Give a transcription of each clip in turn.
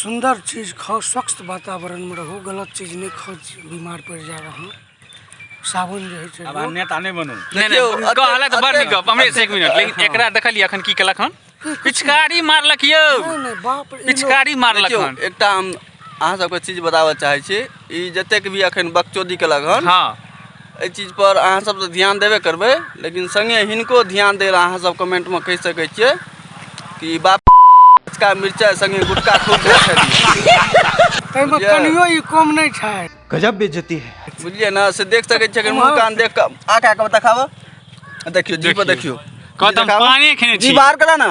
सुन्दर चीज खाउ स्वच्छ वातावरणमे रहू गलत चीज नहि खाउ बीमार पड़ि जायब अहाँ साबुन जे होइ छै आब अहाँ नेता नहि बनू नहि देखियौ, नहि अते- कहलक तऽ बड़ अते- नीक गप हमरे से एक मिनट लेकिन अते- एकरा देखलियै अखन की केलक हन पिचकारी मारलक यौ नहि, नहि, बाप रे, ई लोग- पिचकारी मारलक देखियौ हन एकटा हम अहाँ सबके चीज बताबऽ चाहै छी ई जतेक भी अखन बकचोदी केलक हन हँ एहि चीज पर अहाँ सब तऽ ध्यान देबे करबै लेकिन संगे हिनको ध्यान दै लए अहाँ सब कमेंट में कहि सकै छियै कि बाप का मिर्चा संगे गुटका खूब खा छलिए ताहिमे बुझलियै? कनियो ई कम नहि छै गजब बेइज्जती है बुझलियै ने से देख सकै छियै अगर मुँह कान देख कऽ आ कए कऽ देखाबऽ आ देखियौ जी पर देखियौ कहत हम देखाबऽ। पाने खेने जी छी बाहर करा ने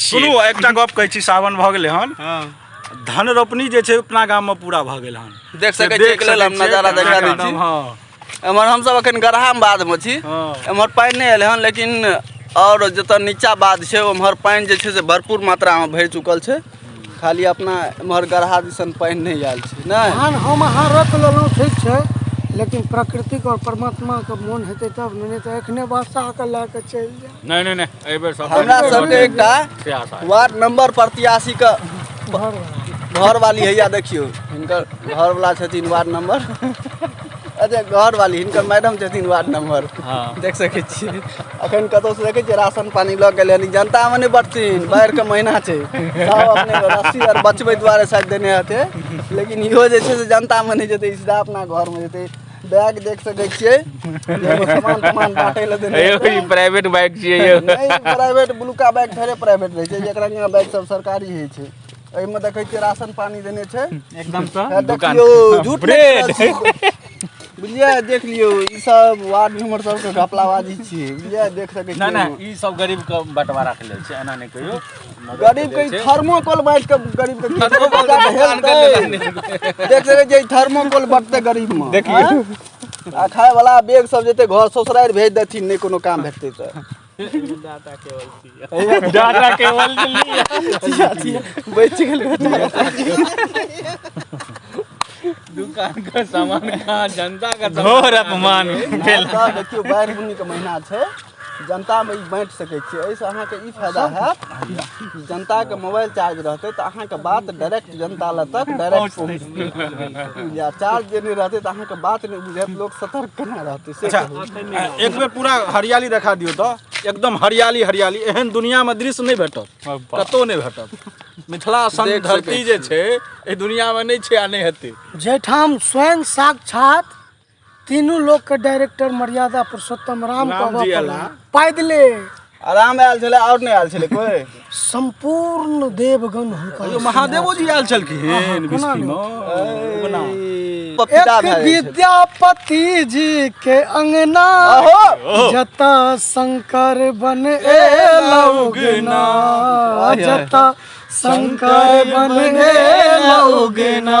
सुनू एकटा गप कहै छी सावन भऽ गेलै हन हँ धन रोपनी जे छै अपना गाममे पूरा भऽ गेल हन देख से सकै छियै देख एकरे सकै हम छियै नजारा केना देखा दै एकदम, छी। हँ एमहर हमसब अखन गरहाम बाधमे छी हँ। एमहर पानि नहि एलै हन लेकिन आओर जतऽ नीचा बाध छै ओमहर पानि जे छै से भरपूर मात्रामे भरि चुकल छै खाली अपना एम्हर गढ़ा दिसन पानि नहि आयल छै नहि धान हम अहाँ रख लेलहुँ ठीक छै लेकिन प्रकृतिक और परमात्माके मोन हेतै तब ने नहि तऽ एखने वर्षाके लए कऽ चलि जाय नहि नहि नहि एहि बेर सब हमरा सबके एकटा से आशा है। वार्ड नंबर प्रत्याशी के घर वाली हैया देखियौ हिनकर घरवला छथिन वार्ड नंबर अच्छा घर वाली हिनकर मैडम छथिन वार्ड नंबर हँ। देख सकै छियै अखन कतौ से देखै छियै राशन पानी लऽ गेलै यानी जनता मे नहि बटथिन बाढ़ि के महीना छै सब अपने के रस्सी आर बचबै दुआरे शायद देने हेतै लेकिन इहो जे छै से जनता मे नहि जेतै ई सीधा अपना घर मे जेतै बैग देख सकै छियै जाहिमे सामान तामान बाँटै लए देने अयो हेतै। ई प्राइवेट बाइक छियै यौ नहीं प्राइवेट ब्लूका बैग थोड़े प्राइवेट रहे छै एकरा यहाँ बैग सब सरकारी ही छै एहिमे देखै छियै राशन पानी देने छै एकदम से हे दुकान देखियौ झूठ ब्रेड नहि करत। बुझलियै देख लियौ ई सब वार्ड मेंबर सबके घपलाबाजी छियै बुझलियै देख सकै छियै ना ना ई सब गरीब के बंटवारा के लेल छै एना नहि कहियो मदद गरीब के के लेल छै। थर्मोकोल बांटि के गरीब के थर्मोकोल के दोकान के लेल नहि हेतै। देख सकै छियै थर्मोकोल बटते गरीब में देखियौ। आ खाय वाला बैग सब जेते घर ससुरारि भेज देथिन नहि कोनो काम भेटतै तऽ डाटा केवल चाहिए डाटा केवल चाहिए बच गल दुकान का सामान कहाँ जनता का घोर अपमान भेल देखियो बाढ़ि बुनी के महीना छै जनता में बांट सके छी एहिसँ अहाँके ई फायदा हैत जनता के मोबाइल चार्ज रहते तऽ अहाँके बात डायरेक्ट जनता लग तक डायरेक्ट पहुँच बुझलियै चार्ज जे नहि रहतै तऽ अहाँके बात नहि बुझायत लोक सतर्क केना रहतै से अच्छा कहू। आ, एक बेर पूरा हरियाली देखा दियौ तऽ एकदम हरियाली हरियाली एहन दुनियामे दृश्य नहि भेटत कतहु नहि भेटत मिथिला सन देख सकै धरती जे छै एहि दुनियामे नहि छै आ नहि हेतै जाहिठाम स्वयं साक्षात तीनू लोक के डायरेक्टर मर्यादा पुरुषोत्तम राम के राम जी अबऽ अला। पड़ल। पैदले आराम आयल छलै आओर नहि आयल छलै कोइ संपूर्ण देवगण हुनका यो महादेवो जी आयल छलखिन कोना विष्णु कोना पपीता एक भए जाइ छै। विद्यापति जी के अंगना ओहो जता शंकर बन एला उगना जता शंकर बन एला उगना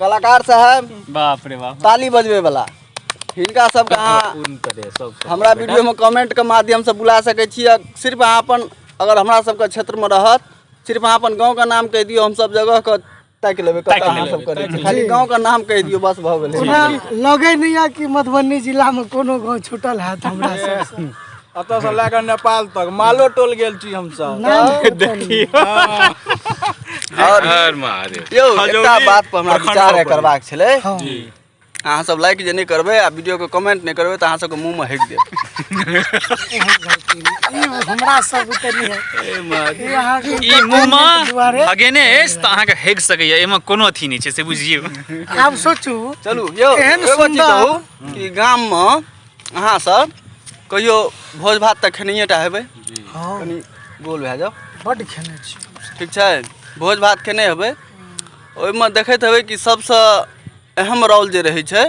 कलाकार साहब बाप रे बाप ताली बजबे वाला हिनका सबके अहाँ उन तरे सब सब। हमरा वीडियो में कमेंट के माध्यम से बुला सके छी आ सिर्फ अहाँ अपन अगर हमरा सबके क्षेत्र में रहत सिर्फ अहाँ अपन गांव का नाम कह दियो हम सब जगह के ताकि लेबे कतऽ ताकि अहाँ लेबै, सब करै छी खाली गांव का नाम कह दियो बस भऽ गेलै ओना लगे नहीं है कि मधुबनी जिला में कोनो गांव छूटल है हमरा सबसे एतऽ से लए कऽ नेपाल तक मालो टोल गेल छी हमसब नाम देखियो और हर महादेव यौ एकटा खजौली बात पर हमरा प्रखंड विचार पर। करबाक छलै हँ। अहाँ सब लाइक जे नहि करबै आ वीडियो के कमेंट नहि करबै तऽ अहाँ सबके मुंह में हटि देब ई हमरा सब बुते नहि है ई अहाँके ई मुँहमा दुआरे अगेने अछि तऽ अहाँके हेग सकैया एहिमे कोनो अथी नहि छै से बुझियौ आब सोचू चलू यौ एहन एगो चीज सुन्दर- कहू कि गाम में अहाँ सब कहियो भोज भात तऽ खेनिए टा हेबै हाँ कनि गोल भए जाओ बड खेने छी ठीक छै भोज भात खेने हेबै ओहिमे देखैत हेबै कि सबसँ अहम रोल जे रहै छै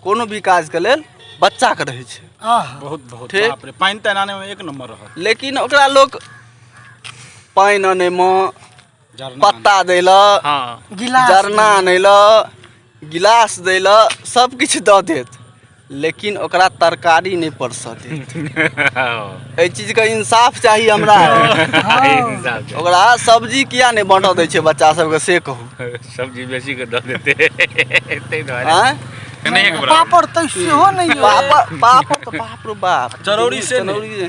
कोनो भी काजके लेल बच्चाके रहै छै बहुत बहुत ठीक पानि तऽ एनानेमे एक नम्बर रहत लेकिन ओकरा लोक पानि आनैमे पत्ता दै लए गिलास जरना आनै लए गिलास दै लए सब किछु दऽ देत लेकिन ओकरा तरकारी नहि परसऽ देत एहि चीजके इंसाफ चाही हमरा ओकरा सब्जी किया नहि बाँटऽ दै छै बच्चा सबके से कहू सब्जी बेसी के दऽ देते ताहि दुआरे आँय पापड़ तऽ सेहो नहि पापड़ पापड़ तऽ बाप रे बाप चरौरी से नहि। चरौरी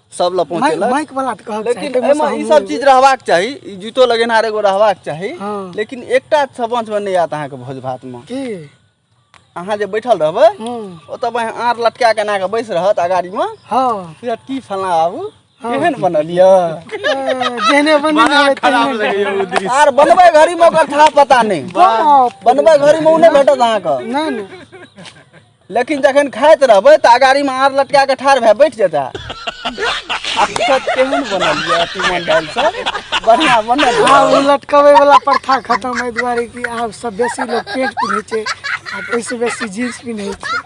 सब लए पहुँचे माइक माइक वाला तऽ कहब लेकिन एहिमे ई सब चीज रहबाक चाही ई जूतो लगेनहार एगो रहबाक चाही हँ। लेकिन एकटा सबंचमे नहि आयत अहाँके भोज भातमे की अहाँ जे बैठल रहबै हूँ ओतऽ बहि आँर लटका के एना कऽ बैस रहत अगाड़ीमे हँ बुझत की फलना बाबू केहन बनल यऽ ए, जेहने बनी बड़ा रहबै खराब तेहने लगैया ओ दृश्य आर बनबै घड़ीमे ओकर था पता नहि बाप बनबै घड़ीमे ओ नहि भेटत अहाँके नहि नहि लेकिन जखन खाइत रहबै तऽ अगाड़ीमे आर लटका कऽ ठाढ़ भए बैठ जेता केहन बनल यऽ तीमन दालि सब बढ़िआँ बनल आब ओ लटकबै वाला प्रथा खतम एहि दुआरे कि आब सब बेसी लोग पेंट पिन्है छै आ ओहिसँ बेसी जींस पिन्है छै